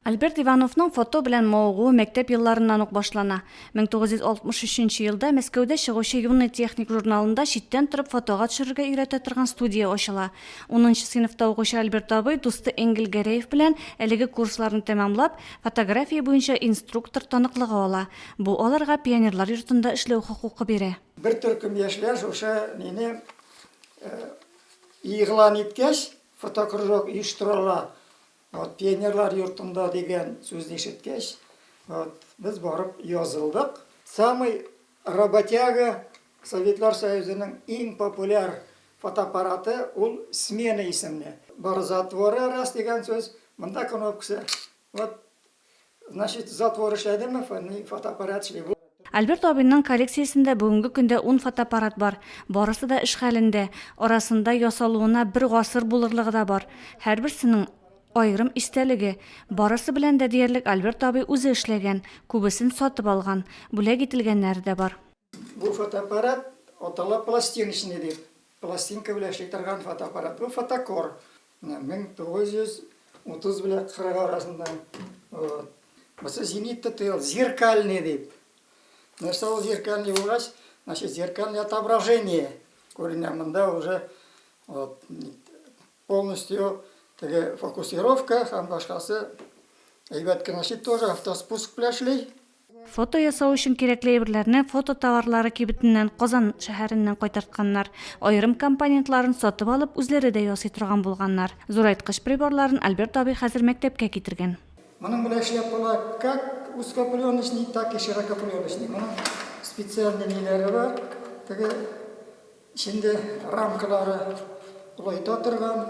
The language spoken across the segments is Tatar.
Альберт Ивановның фото белән мавыгуы мәктәп елларыннан ук башлана. 1963 елда Мәскәүдә чыгучы Юный техник журналында читтән торып фотога төшерергә өйрәтә торган студия ачыла. Унынчы сыйныфта укучы Альберт абый дусты Энгель Гәрәев белән, әлеге курсларны тәмамлап, фотография буенча инструктор таныклыгы ала. Бу аларга пионерлар йортында эшләү хокукы бирә. Бер төркем яшьләр шушы нене игълан иткәч, фотокружок оештыралар. Вот пионерлар йортында дигән сүзне ишеткәч, вот без барып язылдык. Самый работяга Советлар Союзының иң популяр фотоаппараты ул смена исемле. Бар затворы раз дигән сүз, монда кнопкасы. Вот Значит, затвор эшләдеме, фони, фотоаппарат эшли. Бу. Альберт абыйның коллекциясендә бүгенге көндә ун фотоаппарат бар. Барысы да эш хәлендә. Арасында ясалуына бер гасыр булырлыгы да бар. Һәрберсенең аерым истәлеге. Барысы белән дә диярлек Альберт абый үзе эшләгән, күбесен сатып алган, бүләк ителгәннәре дә бар. Бу фотоаппарат атала пластиночный дип. Пластинка белән эшли торган фотоаппарат. Бу фотокор. Менә 1930 белән 40 арасында. Вот. Бусы зенитта тыел, зеркальный дип. Нәрсә ул зеркальный булгач, значит, зеркальный отображение күренә. Монда уже вот, полностью теге фокусировка һәм башкасы әйбәт кенә. Значит, тоже автоспуск белән эшли. Фото ясау өчен кирәкле әйберләрне фото товарлары кибетеннән Казан шәһәреннән кайтартканнар. Аерым компонентларын сатып алып, үзләре дә ясый торган булганнар. Зурайткыч приборларын Альберт абый хәзер мәктәпкә китергән. Моның белән эшләп була как узкопленочный, так и широкопленочный. Моның специальный ниләре бар, теге эчендә рамкалары олайта торган.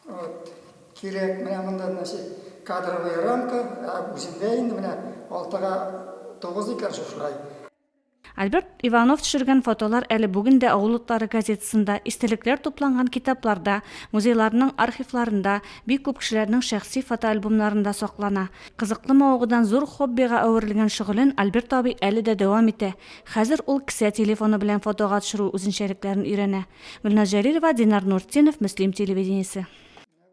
Вот, кирәк, менә монда, значит, кадровая рамка, ә үзендә инде менә алтыга тугыз икән шушылай. Альберт Иванов төшергән фотолар әле бүген дә Авыл утлары газетасында, истәлекләр тупланган китапларда, музейларның архивларында, бик күп кешеләрнең шәхси фотоальбомнарында саклана. Кызыклы мавыгудан зур хоббига әверелгән шөгылен Альберт абый әле дә дәвам итә, Хәзер ул кесә телефоны белән фотога төшерү үзенчәлекләрен өйрәнә. Гөлназ Җәлилова, Динар Нуртдинов, Мөслим телевидениесе.